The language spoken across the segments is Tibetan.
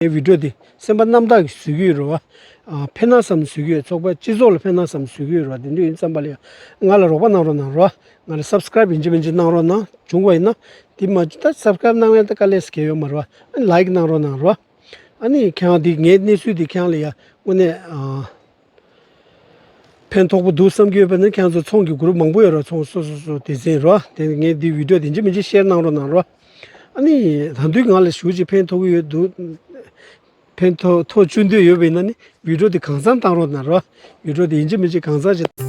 འོད་འཕྲོས་ཏེ་སེམས་པ་རྣམ་དག་གིས་ཟུག་གི་ཡོད་རེད་བ། ཕན་ན་བསམ་ཟུག་གི་ཡོད་ཚོགས་པ་སྤྱི་ཚོགས་ལ་ཕན་ན་བསམ་ཟུག་གི་ཡོད་རེད་བ་དེ་འདྲ་ཡིན་བསམ་པ་ལ་ཡང་ང་ལ་རོགས་པ་གནང་རོགས་གནང་རོགས་ང་ལ Subscribe ཡིན་གྱི་མིན་གྱི་གནང་རོགས་གནང་བྱུང་བ་ཡིན་ན་དེ་མ་ད Subscribe གནང་ཡང་ད་དཀའ་ལས་སུ་གས་ཡོད་མ་རེད་བ Like གནང་རོགས་གནང་རོགས་ཨ་ནི་ཁྱེད་རང་དེ་ངའི་གནས་ཚུལ་དེ་ཁྱེད་རང་ལ་ཡང་དངོས་གནས་ཕན་ཐོགས་པོ་འདུག་བསམ་གྱི་ཡོད་པ་ནི་ཁྱེད་ཚོ་ཚོང་གི་གུརུབ་མང་པོ་ཡོད་ར་ཚོང་སོ་སོ་སོ་དེ་ཟིན་རོ་དེ་ནས་ངས་འདི་བིད་འགྲོ་དེ་འཇི་མི་འཇི་བཤེར་གནང་རོགས་གནང་རོགས་ཨ་ནི་རང་འདུས་ངང་ལ་ཞུགས་ཅིག་ཕན་ཐོགས་གི་ཡོད་འདུག་ཕན་ཐོགས་ཐོགས་བཅུ་འདོད་ཡོད་པའི་ན་ནི་བིད་འགྲོ་དེ་གང་བརྩམ་གཏང་རོགས་གནང་རོགས་བིད་འགྲོ་དེ་འཇི་མི་འཇི་གང་བརྩམ་བྱེད།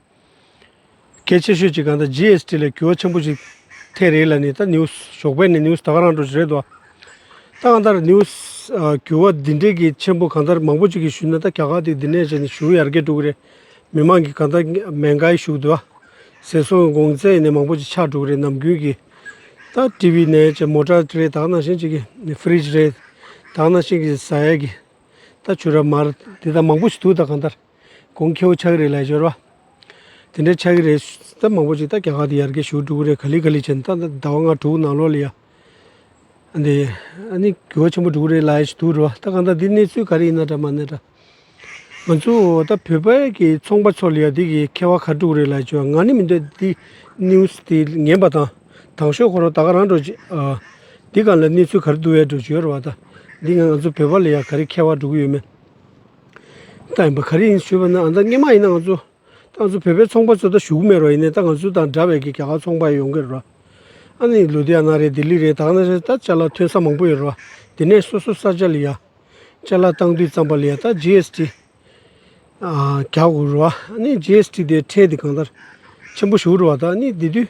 གལ་ཆེ་ཤོས་ཅིག་གང་ལྟར GST ལས་གྱུར་བ་ཆེན་པོ་ཞིག་ཐེངས་རེ་ལ་ནི་ད news ཞོགས་པའི་ནས news ད་ག་རང་འགྲོ་ཞིག་རེད་དོ། ད་གང་ལྟར news གྱུར་བ་འདི་འདྲའི་གི་ཆེན་པོ་གང་ལྟར་མང་པོ་ཅིག་གིས་ཞུས་ན་ད་རྒྱ་གར་དེ་འདི་ནས་བྱས་ནས་ཞུ་ཡར་རྒྱས་འགྲོ་གི་རེད། མི་མང་གིས་གང་ལྟར་མེན་གྷའི་བཞུགས་དུ་ཟེར་སོང་གི་དགོངས་ཚད་ནས་མང་པོ་ཅིག་ཆགས་འགྲོ་གི་རེད་ནམ་རྒྱུན་གྱི། ད TV ནས་བྱས་མོ་ཏྲ་རེད་ད་ག་ནང་བཞིན་ཅིག་གི fridge རེད་ད་ག་ནང་བཞིན་གྱི་ཟ་ཡས་ཀྱི། ད་ཆུ་ར་མར་དེ་དག་མང་པོ་ཞིག་འདུག་ད་གང་ལྟར། གོང་ཁྱེའུ་ཆག་རེ་ལས་སྦྱོར་བ། དེ་འདྲའི་ཆག་རེ་ལྟར་མང་པོ་ཅིག་ད་ག་ག་དུ་ཡར་གའི་ཞུགས་དྲུག་རེ་ག་ལི་ག་ལི་བྱེད་ད་ཟླ་བ་ལྔ་དྲུག་ནང་ལོགས་ལ་ཡ། འདི་ཨ་ནི་དགེ་བ་ཆེན་པོ་དྲུག་རེ་ལ་ཡས་དུར་བ་ད་གང་ད་འདི་གནས་ཚུལ་ག་རེ་ཡིན་ན་འདྲ་མ་ནི་འདྲ། ང་ཚོའོ་ད་བོད་པ་གི་ཚོང་པ་ཚོ་ལ་ཡ་འདི་གི་ཁ་བ་ག་དྲུག་རེ་ལ་སྦྱོར་ང་ནི་མི་འདོད་འདི news དེ་ཉན་པ་དང་དང་ཤོས་ཁོ་རང་ད་ག་རང་འགྲོ་ཅིག་ཨ། འདི་གང་ལ་གནས་ཚུལ་ག་རེ་འདུག་ཡ་འགྲོ་སྦྱོར་བ་ད་འདི་ང་ང་ཚོ་བོད་པ་ལ་ཡ་ག་རེ་ཁ་བ་འགྲོ་གི་ཡོད་མེད། ད་ཡིན་པ་ག་རེ་ཡིན་ཞུས་པ་ན་ཨ་མདའ་རྙེད་མ་ཡིན་ན་ང་ཚོ་ད་ང་ཚོ་བོད་པའི་ཚོང་པ་ཚོ་ད་བཞུགས་མེད་རོགས་ཡིན་ནའི་ད་ང་ཚོ་དང་འདྲ་བའི་གི་རྒྱ་གར་ཚོང་པ་ཡོང་གི་རེད་རོགས་ཨ་ནི་ལུ་དྷི་ཡ་ན་རེད་ལྡི་ལི་རེད་ད་ང་ཚོ་ད་བཅའ་ལག་ཐོན་ས་མང་པོ་ཡོད་རོགས་དེ་ནས་སོ་སོ་ས་བཅའ་ལི་ཡ་བཅའ་ལག་བཏང་དུས་ཙམ་པ་ལི་ཡ་ད GST རྒྱག་དགོས་རོགས་ཨ་ནི GST དེ་ཁྲལ་དེ་གང་ལྟར་ཆེན་པོ་ཞུ་རོགས་ད་ཨ་ནི་དེ་དུས།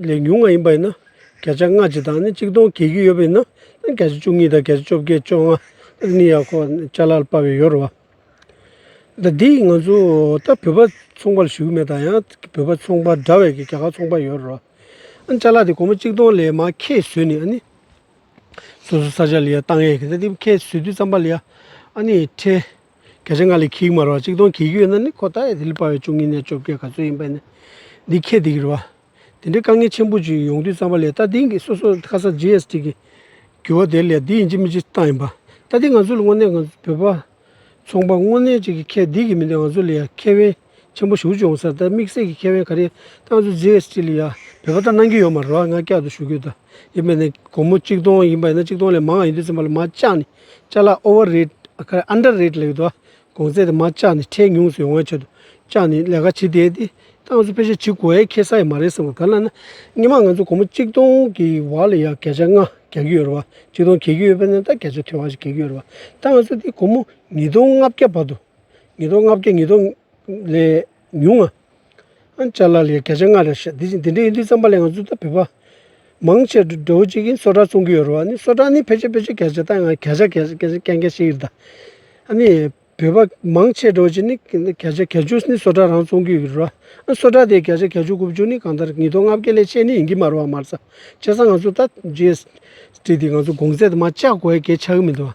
ལས་ཉུང་བ་ཡིན་པ་ཡིན་ན་བརྒྱ་ཆ་ལྔ་གཅིག་དང་ནི་གཅིག་སྟོང་གྱེས་རྒྱུ་ཡོད་པ་ཡིན་ན་བརྒྱ་ཆ་བཅུ་གཉིས་དང་བརྒྱ་ཆ་བཅོ་བརྒྱད་བཅོ་ལྔ་ནི་ཡག་གོ་ལྕགས་ལ་ལྤགས་པའི་ཡོ་རོ་བ། ད་འདི་ཡིས་ང་ཚོ་ད་བོད་པ་ཚོང་པ་ལ་ཞུ་གི་མེད་དང་ཡང་བོད་པ་ཚོང་པ་འདྲ་བས་ཀྱི་རྒྱ་གར་ཚོང་པ་ཡོ་རོ་བ། ཨ་ནི་ལྕགས་ལ་དེ་གོང་མ་གཅིག་སྟོང་ལས་མ་ཁེ་ཟོས་ནས་ཨ་ནི། སོ་སོ་ས་ཆ་ལ་ཡ་བཏང་ཡས་ཀྱི་ད་འདི་ཁེ་ཟོས་དུས་ཙམ་པ་ལ་ཡ་ཨ་ནི་ཁྲེ། སྐད་ཆ་འགའ་ལས་གིག་མ་རོ་གཅིག་སྟོང་གིག་ཡོད་ན་ནི་ཁོ་ད་ཡ་དེ་ལས་དཔའ་བའི་བཅུ་གཉིས་ནས་བཅོ་བརྒྱད་ག་ཚོད་ཡིན་པ་ནི་འདི་ཁྱེད་དེ་གི་རེད་བ། དེ་འདྲའི་དཀའ་ངལ་ཆེན་པོ་ཅིག་ཡོང་དུས་བསམ་པ་ལས་ད་དེང་གི་སོ་སོ་ཁ་སང GST གི་འགྱུར་བ་དེ་ལས་འདི་ཡིན་གཅིག་མིན་གཅིག་བཏང་ཡིན་པ། ད་དེ་ང་ཚོ་ལ་དངོས་གནས་ང་ཚོ་བོད་པ་ཚོང་པ་དངོས་གནས་ཅིག་གི་ཁྱེད་དེ་གི་མི་འདུག་ང་ཚོ་ལ་ཡ་ཁྱེད་དབེན་ཆེན་པོ་ཞུགས་ཀྱི་ཡོང་ས་དེ་དམིགས་བསལ་གྱི་ཁེ་དབང་ག་རེ་ཏང་ཙུའི་རྗེས་ལྕི་ལི་ཡ་བོད་པ་ལྟར་གནང་གི་ཡོད་མ་རོག་ང་བསྐྱར་དུ་ཞུ་གི་ཡོད་ཡིན་པ་ནས་སྒོར་མོ་གཅིག་སྟོང་ཡིན་པ་ཡིན་ན་གཅིག་སྟོང་ལས་མང་ཡིན་དུས་ཚན་པ་ལ་མ་བཅག་ནས་བཅག་ལ Over Rate ག་རེ Under Rate ལས་ཡོད་དོ་གོང་ཚད་དེ་མ་བཅག་ནས་ཁྲལ་ཉུང་སུ་ཡོང་བའི་ཆེད་དུ་བཅག་ནས་ལས་ཀ་བྱེད་བསྡད་དེ་ཏང་ཙུའི་ཕལ་ཆེར་བྱེད་དགོས་ཡས་ཁེ་ས་ཡས་མ་རེད་བསམ་གང་ལ་ན་སྙེ་མ་ང་ཚོ་སྒོར་མོ་གཅིག་སྟོང་གི་བར་ལ་ཡ་གས་ཆ་ལྔ་གས་ཀྱི་ཡོད་རེད་བ་གཅིག་སྟོང་གས་ཀྱི་ཡོད་པ་ནས་ད་གས་ཆ་ཐོས་བ་ཞིག་གས་ཀྱི་ཡོད་རེད་བ་ཏང་ཙུ་དེ་སྒོར་མོ་ཉིས་སྟོང་ལྔ་བརྒྱ་བར་དུ། ཉིས་སྟོང་ལྔ་བརྒྱ་ཉིས་སྟོང་ལས་ཉུང་ང། ཨན་ཅཱ་ལ་ལའི་བརྒྱ་ཆ་ལྔ་རེ་བཤད། དེ་བཞིན་དེ་འདྲའི་ཡིན་དུས་རྩམ་པ་ལས་ང་ཚོས་ད་བོད་པ། མང་ཆེ་བགྲོ་བོ་གཅིག་གིས་སོ་ཀྲ་བཙོང་གི་ཡོད་རེད་བ། ནི་སོ་ཀྲ་ནི་ཕལ་ཆེར་ཕལ་ཆེར་གལ་ཆེ་ད་ཡང་གལ་ཆ་གལ་གལ་གལ་གལ་ཆེ་ཡིན་རེད་ད། ཨ་ནི་བོད་པ་མང་ཆེ་བགྲོ་བོ་གཅིག་ནི་གལ་ཆེ་གལ་ཆུང་ནི་སོ་ཀྲ་རང་བཙོང་གི་ཡོད་རེད་བ། ཨན་སོ་ཀྲ་དེའི་གལ་ཆེ་གལ་ཆུང་དགུ་བཅུ་ནི་གང་ལྟར་ཉིས་སྟོང་ལྔ་བརྒྱ་ལས་ཆེ་ནི་ཡིན་གྱི་མ་རེད་བ་མར་ཚ། བྱས་ཙང་ང་ཚོས་ད་རྗེས་དྲིས་དེ་ང་ཚོ་དགོངས་ཚད་དུ་མ་བཅག་གོ་ཡ་གལ་ཆགས་གི་མི་འདུག་བ།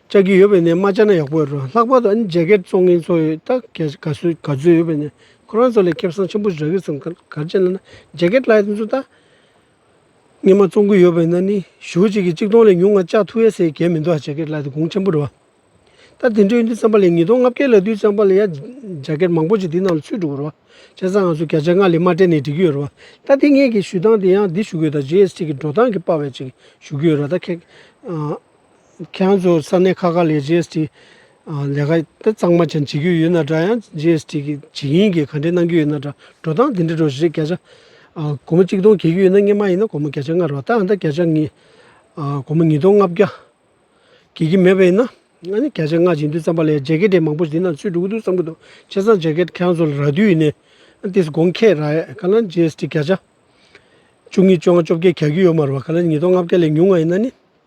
བཅའ་རྒྱུ་ཡོད་པའི་ནས་མ་བཅའ་ན་ཡག་པོ་རེད་ལྷག་པར་དུ་ཨ་ནི་རྒྱ་སྐད་གཙོ་ངན་ཚོ་ཡོད་ད་ག་ག་ཚོད་ག་ཚོད་ཡོད་པའི་ནས་ཁོ་རང་ཚོ་ལས་ཁེབས་སང་ཆེན་པོ་རག་གི་སང་གར་ཅན་ལ་ན་རྒྱ་སྐད་བླ་ཡ་ཚོ་ད་ངན་མ་གཙོ་གི་ཡོད་པའི་ན་ནི་ཞུ་གཅིག་གི་གཅིག་སྟོང་ལས་ཉུང་ང་བཅའ་ཐུ་ཡ་སའི་གད་མི་འདུག་ཨ་རྒྱ་སྐད་བླ་ཡ་གུང་ཆེན་པོ་རེད་བ་ད་དེ་འདྲའི་ཡོད་འདི་ཙམ་པ་ལས་ཉིས་སྟོང་ལྔ་བརྒྱད་ལ་དུས་ཙམ་པ་ལ་ཡ་རྒྱ་སྐད་མང་པོ་ཅིག་དེ་ནང་ལ་ཚུད་འགྲོ་གི་རེད་བ་བྱས་སང་ང་ཚོ་བརྒྱ་ཆ་ལྔ་ལས་མ་སྤྲད་ནས་འགྲིག་གི་ཡོད་རེད་བ་ད་དེ་སྔའི་གི་ཞུ་སྟངས་དེ་ཡང་འདི་ཞུ་གི་ཡོད་ད GST གི་འགྲོ་སྟངས་གི་པ་བས་ཅིག་ཞུ་གི་ཡོད་རེད་ད་ཁྱེད་ཁྱེད་རང་ཚོ་ས་གནས་ཁག་ཁག་ལས་རྗེ་ཨེས་ཏི་ལས་ཀ་དེ་གཙང་མ་ཅན་བྱེད་རྒྱུ་ཡོད་ན་འདྲ་ཡང་རྗེ་ཨེས་ཏི་གི་བྱེད་ཡིན་གྱི་ག་འདྲའི་གནང་རྒྱུ་ཡོད་ན་འདྲ་འགྲོ་སྟངས་དེ་འདྲའི་འགྲོ་ཞེས་བརྒྱ་ཆ་གོ་མ་གཅིག་སྟོང་གྱེས་རྒྱུ་ཡོད་ན་སྔན་མ་ཡིན་ན་གོ་མ་བརྒྱ་ཆ་ལྔ་རོགས་ད་ད་བརྒྱ་ཆ་ཉིས་གོ་མ་ཉིས་སྟོང་ལྔ་བརྒྱ་གྱེས་ཀྱི་མེད་པ་ཡིན་ན་ཨ་ནི་བརྒྱ་ཆ་ལྔ་བྱེད་འདུག་བསམ་པ་ལས་རྗེ་གེ་དེ་མང་པོ་དེ་ནང་ཚུད་འགྲོ་གི་འདུག་བསམ་གྱི་འདུག་ཁྱེད་ཚང་རྗེ་གེ་ཁྱེད་རང་ཚོ་ལ་རག་དུས་ཡིན་ནས་དེས་དགོངས་ཁྱེད་ར་ཡས་ག་ལ་རྗེ་ཨེས་ཏི་བརྒྱ་ཆ་བཅུ་གཉིས་བཅོ་ལྔ་བཅོ་བརྒྱད་གྱ་གྱི་ཡོད་མ་རོ་བ་ག་ལ་ཉིས་སྟོང་ལྔ་བརྒྱ་ལས་ཉུང་ང་ཡིན་ན་ནི།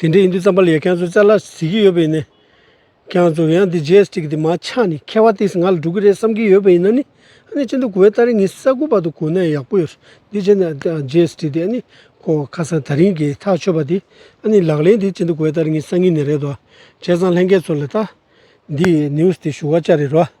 དེ་འདྲའི་ཡིན་དུས་རྩམ་པ་ལ་ཡ་གྱང་ཚོས་རྩལ་སླ་ཟེར་གྱི་ཡོད་པ་ཡིན་ནི། གྱང་ཚོ་ཡང་འདི་རྗེས་དྲིག་འདི་མ་ཆགས་ནས་ཁ་བ་ཏིས་ང་ལ་འགྲོ་གི་རེད་བསམ་གྱི་ཡོད་པ་ཡིན་ན་ནི། ཨ་ནི་ཅི་འདི་གོ་བའི་སྟ་རེ་ངའི་ས་རྐུབ་བར་དུ་གོ་ན་ཡག་པོ་ཡོད། འདི་བྱས་ན་རྗེས་དྲིག་འདི་ཨ་ནི་ཁོ་ཁ་སང་ད་རིང་གིས་ཐག་ཆོད་པ་དེ་ཨ་ནི་ལག་ལེན་དེ་ཅི་འདི་གོ་བའི་སྟ་རེ་ངའི་ས་ངོས་ནས་རེད་དོ། བྱས་ཙང་ལྷན་རྒྱས་ཚོ་ལ་ལྟ། འདིས news དེ་ཞུ་བ་ཅག་རེད་རོ།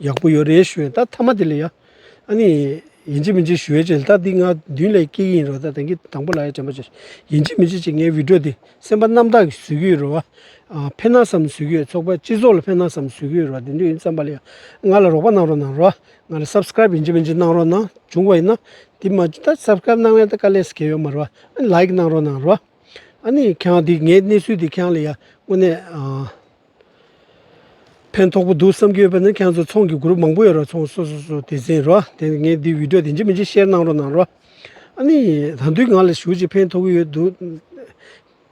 ཡག་པོ་ཡོད་རེད་ཞུས་ད་མཐའ་མ་དེ་ལས་ཡག་ཨ་ནི་ཡིན་གཅིག་མིན་གཅིག་ཞུ་ཡས་ཆེ་ད་འདི་ང་མདུན་ལས་སྐྱེས་ཀྱི་ཡིན་རོ་ད་དེང་གི་དང་པོ་ལ་ཡ་དྲན་པ་ཆེ་ཡིན་གཅིག་མིན་གཅིག་ཅིག་ངའི་བིད་རོ་དེ་སེམས་པ་རྣམ་དག་གི་བཟོས་ཀྱི་ཡོད་རོ་བ་ཕན་ན་སམ་བཟོས་ཀྱི་ཡོད་ཚོགས་པ་སྤྱི་ཚོགས་ལ་ཕན་ན་སམ་བཟོས་ཀྱི་ཡོད་རོ་བ་དེ་འདྲ་ཡིན་བསམ་པ་ལས་ཡ་ང་ལ་རོགས་པ་གནང་རོགས་གནང་རོགས་ང་ལ Subscribe ཡིན་གཅིག་མིན་གཅིག་གནང་རོགས་གནང་བྱུང་བ་ཡིན་ན་དེ་མ་ད Subscribe གནང་ན་ད་དཀའ་ལས་སུ་གས་ཡོད་མ་རོ་བ་ཨ་ནི Like གནང་རོགས་གནང་རོགས་ཨ་ནི་ཁྱེད་རང་དེ་ངའི་གནས་ཚུལ་དེ་ཁྱེད་རང་ལ་ཡ་དངོས་གནས་ཕན་ཐོགས་པོ་འདུག་བསམ་གྱི་ཡོད་པ་ནི་ཁྱེད་ཚོ་ཚོང་གི group མང་པོ་ཡོད་ར་ཚོང་སོ་སོ་སོ་དེ་ཟིན་རོགས་དེ་ནས་ངས་འདི video དེ་འཇི་མི་འཇི share གནང་རོགས་གནང་རོགས་ཨ་ནི་ད་འདུས་ང་ལ་ཞུ་ཅིག་ཕན་ཐོགས་གི་ཡོད་འདུག་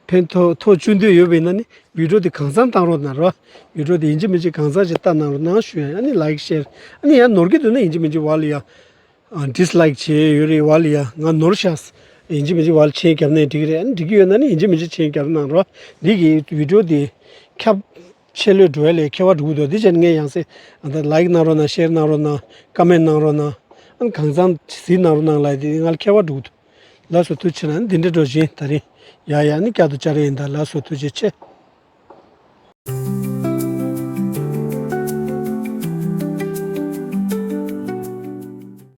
ཕན་ཐོགས་ཐོགས་བཅུ་འདོད་ཡོད་པའི་ན་ནི video དེ་གང་བཟང་གཏང་རོགས་གནང་རོགས video དེ་འཇི་མི་འཇི་གང་བཟང་ཅིག་བལྟ་གནང་རོགས་གནང་ཞུ་ཡ་ཨ་ནི like share ཨ་ནི་ཡང་ནོར་གི་འདུག་ན་འཇི་མི་འཇི་བ་ལ་ཡང། Dislike བྱེད་ཡས་ཡོད་རེད་བ་ལི་ཡ་ང་ནོར་ཤག་ཡིན་གྱི་མིན་གྱི་བ་ལི་ཆེན་རྒྱབ་ནའི་འགྲིག་རེད་ཨ་ནི་འགྲིག་གྱི་ཡོད་ན་ནི་ཡིན་གྱི་མིན་གྱི་ཆེན་རྒྱབ་གནང་རོགས་འདི་གི Video དེ་ཁྱབ་ཆེ་ལོས་འགྲོ་ཡ་ལས་ཁྱེར་བ་འགྲོ་གི་འདུག་དེ་ཕྱིར་ངས་ཡང་སེ་ཨ་ད Like གནང་རོགས་གནང Share གནང་རོགས་གནང Comment གནང་རོགས་གནང་ཨ་ནི་གང་བཟང་ཟིག་གནང་རོགས་གནང་ལ་དེ་ང་ལ་ཁྱེར་བ་འགྲོ་གི་འདུག་ལ་སོ་ཐུགས་ཆེ་ལ་ཨ་ནི་འདི་འདྲ་འགྲོ་བཞིན་ད་རིང་ཡ་ཡ་ཨ་ནི་བསྐྱར་དུ་བཅར་ཡས་ཡིན་ད་ལ་སོ་ཐུགས་རྗེ་ཆེ།